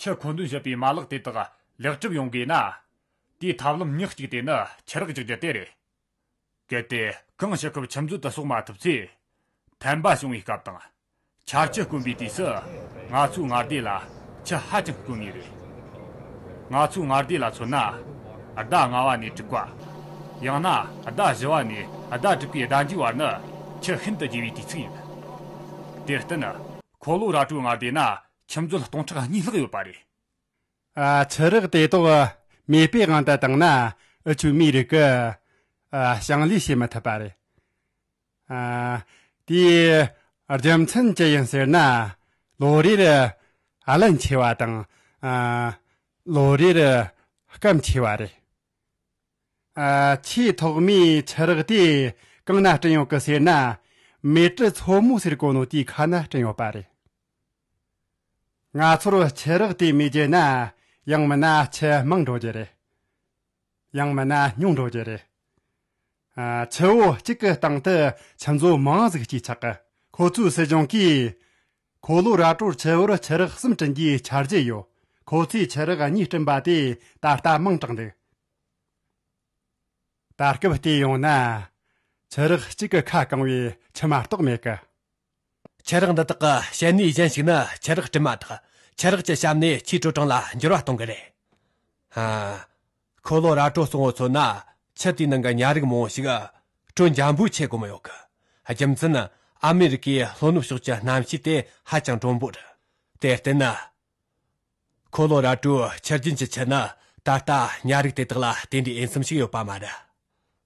ཕྱིར་མཁོ་འདོན་བྱེད་པའི་མ་ལག་དེ་དག་ལེགས་གྲུབ་ཡོང་དགོས་ན། དེའི་ཐབས་ལམ་ཉག་གཅིག་དེ་ནི་ཁྱི་རགས་རྒྱག་རྒྱུ་དེ་རེད། གལ་ཏེ་གང་ཞིག་ཁབ་ཁྱིམ་མཛོད་དུ་གསོག་མ་ཐུབ་ཚེ། ཕན་པ་བྱུང་བའི་སྐབས་དང། འཆར་ཁྱི་དཀོན་པའི་དུས་སུ། ང་ཚོའི་ངར་སྡེ་ལ་ཁྱི་ཧ་ཅང་དཀོན་ངེས་རེད། ང་ཚོའི་ངར་སྡེ་ལ་མཚོན་ན། ཟླ་ལྔ་བ་ནས་དྲུག་བ། ཡང་ན་ཟླ་བཞི་བ་ནས་ཟླ་དྲུག་པའི་ཟླ་མཇུག་བར་ནི་ཁྱི་ཤིན་ཏུ་རྒྱས་པའི་དུས་ཚིགས་ཡིན། དེར་བརྟེན། ཁོ་ལོ་ར་ཀྲོའི་ངར་སྡེ་ན་ཁྱིམ་མཛོད་སྟོང་ཕྲག་གཉིས་ལྷག་ཡོད་པ་རེད། ཆུ་རགས་དེ་དག་མེས་སྤོས་དབང་དུ་བཏང་ན་ཆུ་མིག་རིགས་ཀྱི་ཞིང་ལས་བྱེད་མི་ཐུབ་པ་རེད། དེའི་རྒྱུ་མཚན་ཅི་ཡིན་ཟེར་ན་ལོ་རེར་རླན་ཆེ་བ་དང་ལོ་རེར་སྐམ་ཆེ་བ་རེད། ཆེས་ཐོག་མའི་ཆུ་རགས་དེ་གང་ན་བསྐྲུན་ཡོད་ཀི་ཟེར་ན་མེ་ཏྲི་མཚོ་མོ་ཟེར་གོ་ནོ་དེའི་ཁ་ན་བསྐྲུན་ཡོད་པ་རེད། ང་ཚོར་ཆེད་རག་དེ་མི་བརྗེད་ན་ཡང་མི་སྣ་ཆེས་མང་འགྲོ་རྒྱུ་རེད། ཡང་མི་སྣ་ཉུང་འགྲོ་རྒྱུ་རེད། ཆུ་བོ་གཅིག་གི་སྟེང་དུ་ཆུ་མཛོད་མང་གཟུགས་གཅིག་ཆགས་གི། ཁོ་ཚོའི་སྲིད་གཞུང་གིས་གོ་ལོ་ར་ཀྲོར་ཆུ་བོར་ཆུ་རགས་གསུམ་བསྐྲུན་རྒྱུའི་འཆར་གཞི་ཡོད། ཁོ་ཚོས་ཆུ་རགས་གཉིས་བསྐྲུན་པ་དེ་ད་ལྟ་མང་དྲགས་འདུག་ད་སྐབས་བལྟས་ཡོང་ན། ཆུ་རགས་གཅིག་གི་ཁ་བཀང་བའི་ཆུ་མ་གཏོགས་མེད་གི། ཆུ་རགས་འདི་དག་གི་བཤལ་ནུས་གཞན་ཞིག་ནི་ཆུ་རགས་བྲིས་མ་དག་ཆུ་རགས་ཀྱི་ཞབས་ནས་ཆུའི་དྲོད་གྲང་ལ་འགྱུར་བ་གཏོང་གི་རེད། ཁོ་ལོ་ར་དྲོད་གཙང་བོ་ཚོ་ན་ཆུ་དེའི་ནང་གི་ཉ་རིགས་མང་བོ་ཞིག་དྲོད་འཇམ་པོའི་ཆེད་བཀོལ་མི་ཡོང་གི། རྒྱུ་མཚན་ཨ་མི་རི་ཀའི་ལྷོ་ནུབ་ཕྱོགས་ཀྱི་གནམ་གཤིས་དེ་ཧ་ཅང་དྲོན་པོ་རེད། དེར་བརྟེན། འཁོར་ལོ་ར་སྤྲོད་ཕྱིར་རྒྱུན་གྱིས་ཁྱེར་ན་ད་ལྟ་གཉའ་རིགས་དེ་དག་ལ་དེ་འདྲའི་འོས་འཚམ་ཞིག་ཡོད་པ་མ་རེད།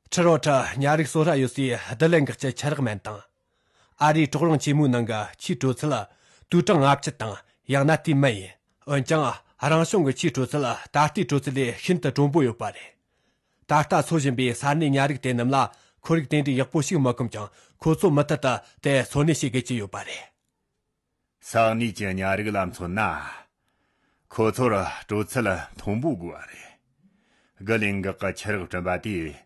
ཁྲི་རོ་ཁྲི་གཉའ་རིགས་གསོ་ར་ཡོད་སའི་བསྡུ་ལེན་འགག་སྐྱེལ་ཆུ་རགས་མན་དང། ཨ་རིའི་གྲོག་རོང་ཆེན་མོའི་ནང་གི་ཆུའི་དྲོད་ཚད་ལ་དུས་གྲངས་ལྔ་བཅུ་དང་ཡང་ན་དེའི་མན་ཡིན། འོན་ཀྱང་རང་བྱུང་གི་ཆུའི་དྲོད་ཚད་ད་ལྟའི་དྲོད་ཚད་ལས་ཤིན་ཏུ་དྲོན་པོ་ཡོད་པ་རེད། ད་ལྟ་འཚོ་བཞིན་པའི་ས་གནས་གཉའ་རིགས་དེ་རྣམས་ལ་ཁོར་ཡུག་དེ་འདྲའི་ཡག་པོ་ཞིག་མ་བསྐོན་ཀྱང་ཁོ་ཚོ་མུ་མཐུད་དུ་དེར་འཚོ་གནས་བྱེད་དགོས་ཀྱི་ཡོད་པ་རེད། ས་གནས་ཀྱི་ཉ་རིགས་ལ་མཚོན་ན། ཁོ་ཚོར་སྤྲོ་ཚུལ་མཐོན་པོ་དགོས་པ་རེད། དགུ་ལས་འགག་གི་ཁྱི་རགས་བསྐྲུན་པ་དེས་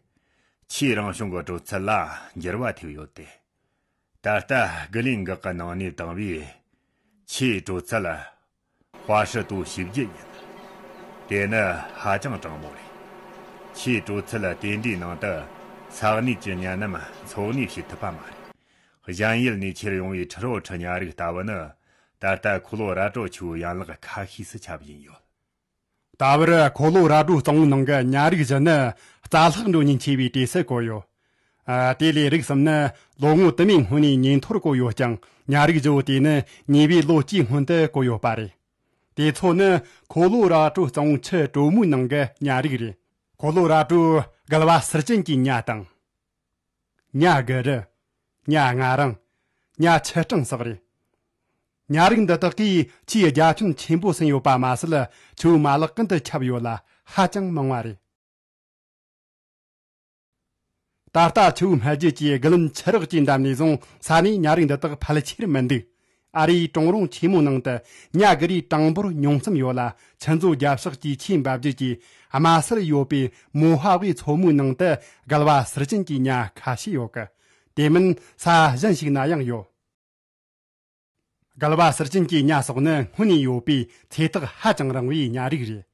ཆུའི་རང་བྱུང་གི་སྤྲོ་ཚུལ་ལ་འགྱུར་བ་ཐེབས་ཡོད་དེ། ད་ལྟ་དགུ་ལས་འགག་གི་ནང་ནས་དྭངས་བས་ཆུའི་སྤྲོ་ཚུལ། པ་ཧྲི་ཏུ་བཞི་བརྒྱ་ཡིན། དེ་ནི་ཧ་ཅང་གྲང་མོ་རེད། ཆེས་དྲོད་ཚད་དེ་འདྲའི་ནང་དུ་ས་གནས་ཀྱི་གཉན་རྣམས་འཚོ་གནས་བྱེད་ཐུབ་པ་མ་རེད། གཞན་ཡུལ་ནས་ཁྱེར་ཡོང་བའི་ཁྲི་རོ་ཁྲི་ཉག་རིགས་ལྟ་བུ་ནི་ད་ལྟ་ཁོ་ལོ་ར་ཀྲོ་ཆུའི་ཡན་ལག་ཁ་ཤས་སུ་ཁྱབ་བཞིན་ཡོད། ད་བར་གོ་ལོ་ར་སྒྲོ་གཙང་བོའི་ནང་གི་གཉའ་རིགས་བཞི་ནི་རྩ་ལྷག་འགྲོ་ཉེན་ཆེ་བའི་གྲས་སུ་བཀོད་ཡོད། དེ་ལས་རིགས་གསུམ་ནི་ལོ་ངོ་དུ་མའི་སྔོན་ནས་ཉེན་མཐོར་བཀོད་ཡོད་ཀྱང་གཉའ་རིགས་བཞི་བོ་དེ་ནི་ཉེ་བའི་ལོ་གཅིག་སྔོན་དུ་བཀོད་ཡོད་པ་རེད། དེ་ཚོ་ནི་གོ་ལོ་ར་སྒྲོ་གཙང་བོའི་ཆུ་གྲོ་མོའི་ནང་གི་གཉའ་རིགས་རེད། གོ་ལོ་ར་སྒྲོ་གལ་བ་སིར་ཅན་གྱི་གཉའ་དང། གཉའ་གི་རི། གཉའ་ང་རང། གཉའ་ཆི་སྤྲང་སོགས་རེད། གཉའ་རིགས་འདི་དག་གིས་ཆུའི་རྒྱ་ཁྱོན་ཆེན་པོ་ཟིན་ཡོད་པ་མ་ཟད་ཆུའི་མ་ལག་ཀུན་ཏུ་ཁྱབ་ཡོད་ལ་ཧ་ཅང་མང་བ་རེད། ད་ལྟ་ཆུའི་སྨད་རྒྱུད་ཀྱི་རྒུ་ལུམ་ཆུ་རགས་ཀྱི་འགྲམ་ནས་བཟུང་ས་ནས་གཉའ་རིགས་འདི་དག་ཕལ་ཆེར་མི་འདུག་ཨ་རིའི་གྲོང་རོང་ཆེན་མོའི་ནང་དུ་ཉྭ་རྒུ་རའི་གྲངས་འབོར་ཉུང་ཙམ་ཡོད་ལ་ཆུ་མཛོད་རྒྱབ་ཤག་གི་ཆུའི་འབབ་རྒྱུད་ཀྱི་དམའ་སར་ཡོད་པའི་མོ་ཧྭ་ཝེ་མཚོ་མོའི་ནང་དུ་གལ་བ་ཟུར་ཅན་གྱི་ཉྭ་ཁ་ཤས་ཡོད། དེ་མིན་ས་གཞན་ཞིག་ན་ཡང་ཡོད། གལ་བ་ཟུར་ཅན་གྱི་ཉྭ་སོགས་ནི་སྔོན་ནས་ཡོད་པའི་ཚེ་ཐག་ཧ་ཅང་རིང་བའི་ཉྭ་རིགས་རེད།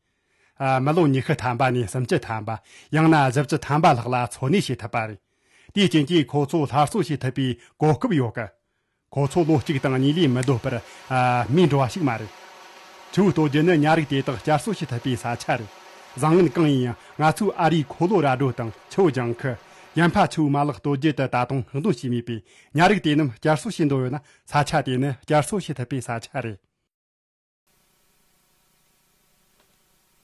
མི་ལོ་ཉི་ཤུ་ཐམ་པ་ནས་སུམ་ཅུ་ཐམ་པ་ཡང་ན་བཞི་བཅུ་ཐམ་པ་ལྷག་ལ་འཚོ་གནས་བྱེད་ཐུབ་པ་རེད། དེའི་རྐྱེན་གྱིས་ཁོ་ཚོ་སླར་གསོ་བྱེད་ཐུབ་པའི་གོ་སྐབས་ཡོད། ཁོ་ཚོ་བློ་གཅིག་དང་གཉིད་ལས་མི་སྡོད་པར་རྨས་འགྲོ་བ་ཞིག་མ་རེད། ཆུ་བོའི་སྟོད་རྒྱུད་ནི་ཉ་རིགས་དེ་དག་བསྐྱར་གསོ་བྱེད་ཐུབ་པའི་ས་ཆ་རེད། བཟང་ངན་གང་ཡིན་ཡང་ང་ཚོའི་ཨ་རིའི་ཁོ་ལོ་ར་རྡོ་དང་ཆུ་བོ་ལྗང་ཁུ། ཡན་ཕ་ཆུ་བོའི་མ་ལག་སྟོད་རྒྱུད་དུ་ད་དུང་བཤིག་འདོན་བྱས་མེད་པའི་ཉ་རིགས་དེ་རྣམས་བསྐྱར་གསོ་བྱེད་འདོད་ཡོད་ན་ས་ཆ་དེ་ནི་བསྐྱར་གསོ་བྱེད་ཐུབ་པའི་ས་ཆ་རེད།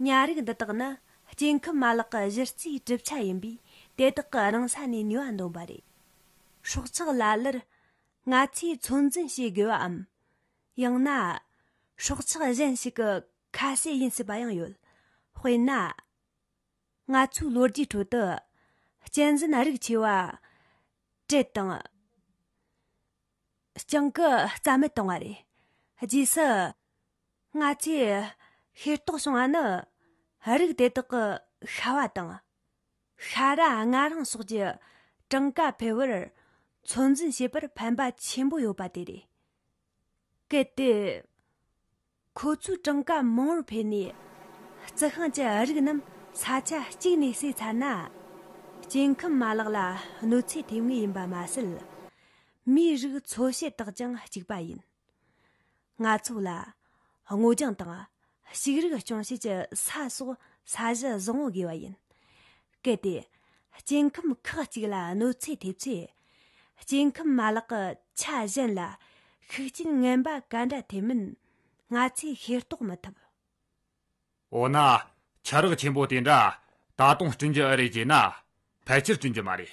ཉ་རིགས་འདི་དག་ནི་སྐྱེ་ཁམས་མ་ལག་གི་གཞི་རྩའི་གྲུབ་ཆ་ཡིན་པས་དེ་དག་གི་རང་ས་ནས་ནུས་པ་འདོན་པ་རེད། སྲོག་ཆགས་ལ་ལར་ང་ཚོས་ཚོད་འཛིན་བྱེད་དགོས་པའམ། ཡང་ན། སྲོག་ཆགས་གཞན་ཞིག་གི་ཁ་ཟས་ཡིན་སྲིད་པ་ཡང་ཡོད། དཔེར་ན། ང་ཚོའི་ལོ་རྒྱུས་ཁྲོད་དུ་གཅན་གཟན་རིགས་ཆེ་བ་ཀྲེད་དང། སྤྱང་ཀི་རྩ་མེད་བཏང་བ་རེད། རྗེས་སུ། སྔ་ཕྱིར། ཤེས་རྟོགས་བྱུང་བ་ནི། རིགས་དེ་དག་གི་ཤྭ་བ་དང། ཤྭ་ར་ལྔ་རིང་སོགས་ཀྱི་གྲངས་ཀ་འཕེལ་བར་ཚོད་འཛིན་བྱེད་པར་ཕན་པ་ཆེན་པོ་ཡོད་པ་དེ་རེད། གལ་ཏེ། ཁོ་ཚོའི་གྲངས་ཀ་མང་བོར་འཕེལ་ནས་རྩི་ཤིང་གི་རིགས་རྣམས་ས་ཆ་གཅིག་ནས་བསྲེས་ཚར་ན། སྐྱེ་ཁམས་མ་ལག་ལ་གནོད་འཚེ་ཐེབས་ངེས་ཡིན་པ་མ་ཟད། མིའི་རིགས་འཚོ་བྱེད་དག་ཀྱང་གཅིག་པ་ཡིན། ང་ཚོ་ལ་སྔོ་ལྗང་དང་ཕྱུགས་རིགས་སྐྱོང་བྱེད་ཀྱི་ས་སོགས་ས་གཞི་བཟང་བོ་དགོས་པ་ཡིན། གལ་ཏེ་སྐྱེ་ཁམས་ཁག་གཅིག་ལ་གནོད་འཚེ་ཐེབས་ཚེ་སྐྱེ་ཁམས་མ་ལག་གི་ཆ་གཞན་ལ་ཤུགས་རྐྱེན་ངན་པ་ག་འདྲ་ཐེབས་མིན་ང་ཚོས་ཤེས་རྟོགས་མི་ཐུབ། འོ་ན། ཆ་རགས་ཆེན་པོ་དེ་འདྲ་ད་དུང་བསྐྲུན་རྒྱུ་ཨེ་རེད་ཅེ་ན། ཕལ་ཆེར་བསྐྲུན་རྒྱུ་མ་རེད།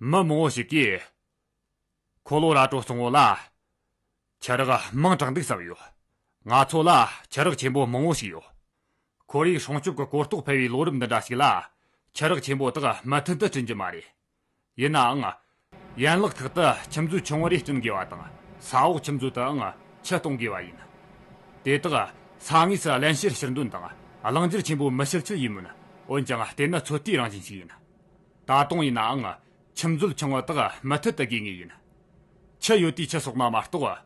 མི་མང་བོ་ཞིག་གིས། ཁོ་ལོ་ར་བྲོ་སོང་བོ་ལ། ཆ་རག་དམངས་དྲག་འདུག་བསམ་ཡོད། ང་ཚོ་ལ་ཆ་རག་ཆེན་པོ་མང་བོ་ཞིག་ཡོད། ཁོར་ཡུག་སྲུང་སྐྱོབ་ཀྱི་གོ་རྟོགས་འཕེལ་བའི་ལོ་རབས་འདི་འདྲ་ཞིག་ལ་ཆ་རག་ཆེན་པོ་དག་མུ་མཐུད་དུ་བསྐྲུན་རྒྱུ་མ་རེད། ཡིན་ནའང། ཡན་ལག་ཁག་ཏུ་ཁྱིམ་མཛོད་ཆུང་བ་རེ་བསྐྲུན་དགོས་པ་དང་ས་འོག་ཁྱིམ་མཛོད་དུའང་ཆུ་གཏོང་དགོས་པ་ཡིན། དེ་དག་ས་ངོས་སུ་བརླན་བཤེར་ཕྱིར་འདོན་དང་བླང་བསྒྱུར་ཆེན་པོ་མི་བྱེད་ཚུལ་ཡིན་མོད། འོན་ཀྱང་དེ་ནི་ཚོད་ལྟའི་རང་བཞིན་ཞིག་ཡིན། ད་དུང་ཡིན་ནའང། ཁྱིམ་མཛོད་ཆུང་བ་དག་མུ་མཐུད་དུ་དགོས་ངེས་ཡིན། ཆུ་ཡོད་དུས་ཆུ་སོགས་ནང་མ་གཏོགས།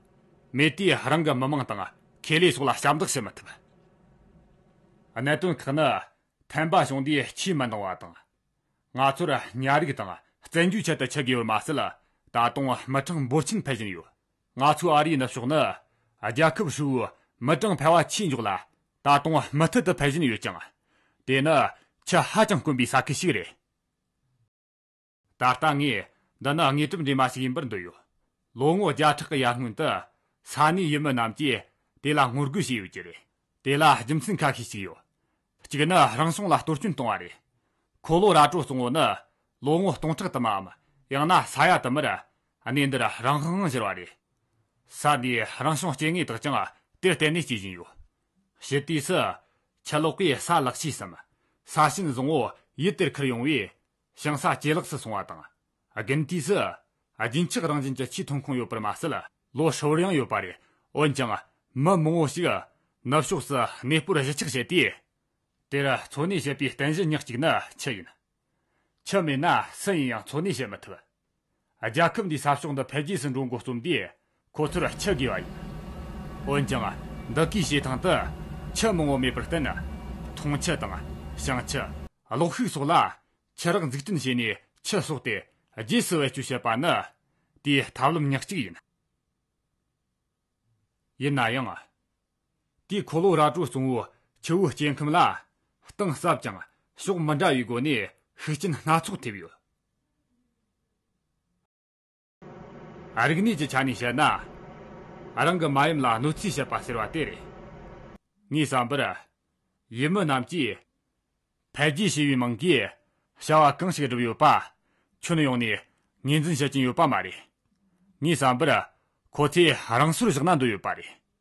མེད་དུས་རང་གི་མི་མང་དང་ཁེ་ལས་སོགས་ལ་ཞབས་འདེགས་བྱེད་མི་ཐུབ། གནད་དོན་ཁག་ནི། ཕན་པ་བྱུང་དུས་ཆུས་མི་འདང་བ་དང། ང་ཚོར་ཉ་རིགས་དང་བཙན་རྒྱུའི་ཆེད་དུ་ཆུ་དགོས་པར་མ་ཟད། ད་དུང་མི་གྲངས་འབོར་ཆེན་འཕེལ་བཞིན་ཡོད། ང་ཚོའི་ཨ་རིའི་ནུབ་ཕྱོགས་ནི། རྒྱལ་ཁབ་ཧྲིལ་བོའི་མི་གྲངས་འཕེལ་བ་ཆེས་མགྱོགས་ལ། ད་དུང་མུ་མཐུད་དུ་འཕེལ་བཞིན་ཡོད་ཅིང། དེ་ནི་ཆུ་ཧ་ཅང་དཀོན་པའི་ས་ཁུལ་ཞིག་རེད། ད་ལྟ་ངས་འདི་ནི་དངོས་གྲུབ་འདྲེས་མ་ཞིག་ཡིན་པར་འདོད་ཡོད། ལོ་ངོ་བརྒྱ་ཕྲག་གི་ཡར་སྔོན་དུ། ས་གནས་ཡུལ་མི་རྣམས་ཀྱིས་དེ་ལ་ངོ་རྒོལ་བྱས་ཡོད་ཀྱི་རེད། དེ་ལ་རྒྱུ་མཚན་ཁ་ཤས་ཤིག་ཡོད། གཅིག་ནི་རང་བྱུང་ལ་གཏོར་སྐྱོན་བཏང་བ་རེད། ཁོ་ལོ་ར་ཀྲོའུ་གཙང་བོ་ནི་ལོ་ངོ་སྟོང་ཕྲག་དུ་མའམ་ཡང་ན་ས་ཡ་དུ་མར་གནས་འདིར་རང་དབང་དབང་བཞེར་བ་རེད། ས་དེའི་རང་བྱུང་སྐྱེ་དངོས་དག་ཀྱང་དེར་བརྟེན་ནས་སྐྱེ་བཞིན་ཡོད། ཕྱི་དུས་སུ། ཕྱི་ལོགས་པའི་ས་ལག་ཕྱིས་སམ་ས་ཤུན་བཟང་བོ་ཡུལ་དེར་འཁུར་ཡོང་བས། ཞིང་ས་ཇེ་ལེགས་སུ་སོང་བ་དང། དགུན་དུས་སུ། རྒྱུན་ཆགས་རང་བཞིན་གྱི་ཆུའི་ཐོན་ཁུངས་ཡོད་པར་མ་ཟད། ལོ་ཧྲིལ་བོར་ཡང་ཡོད་པ་རེད། འོན་ཀྱང། མི་མང་བོ་ཞིག། ནུབ་ཕྱོགས་སུ་གནས་སྤོར་གཞིས་ཆགས་བྱས་ཏེ། དེར་འཚོ་གནས་བྱེད་པའི་རྟེན་གཞི་ཉག་གཅིག་ནི་ཆུ་ཡིན། ཆུ་མེད་ན་སུ་ཡིན་ཡང་འཚོ་གནས་བྱེད་མི་ཐུབ། རྒྱལ་ཁབ་འདིའི་ས་ཕྱོགས་འདི་འཕེལ་རྒྱས་སུ་འགྲོ་འགོ་རྩོམ་དུས་ཁོ་ཚོར་ཁྱི་དགོས་པ་ཡིན། འོན་ཀྱང། འདི་གའི་བྱེ་ཐང་དུ་ཁྱི་མང་བོ་མེད་པར་བརྟེན། འཐུང་ཁྱི་དང། བྱང་ཁྱི། གློག་ཤུགས་སོགས་ལ་ཁྱི་རགས་འཛུགས་སྐྲུན་བྱས་ནས་ཁྱི་གསོག་སྟེ་རྗེས་སུ་བེད་སྤྱོད་བྱེད་པ་ནི་དེའི་ཐབས་ལམ་ཉག་གཅིག་ཡིན། ཡིན་ན་ཡང། དེའི་འཁོར་ལོ་ར་སྤྲོད་གཙོ་བོ་ཆུ་བོའི་སྐྱེ་ཁམས་ལ་གཏིང་ཟབ་ཅིང་ཕྱོགས་མི་འདྲ་བའི་སྒོ་ནས་ཤུགས་རྐྱེན་སྣ་ཚོགས་ཐེབས་ཡོད། རིག་གནས་ཀྱི་ཆ་ནས་བཤད་ན། རང་གི་མ་ཡུམ་ལ་གནོད་འཚེ་བྱེད་པ་ཟེར་བ་དེ་རེད། ངས་བསམ་པར། ཡུལ་མི་རྣམས་ཀྱིས་འཕེལ་རྒྱས་ཞེས་པའི་མིང་གིས་བྱ་བ་གང་ཞིག་བསྒྲུབས་ཡོད་པ་ཁྱོན་ཡོངས་ནས་ངོས་འཛིན་བྱེད་ཀྱིན་ཡོད་པ་མ་རེད། ངས་བསམ་པར་ཁོ་ཚོས་རང་སོར་བཞག་ན་འདོད་ཡོད་པ་རེད།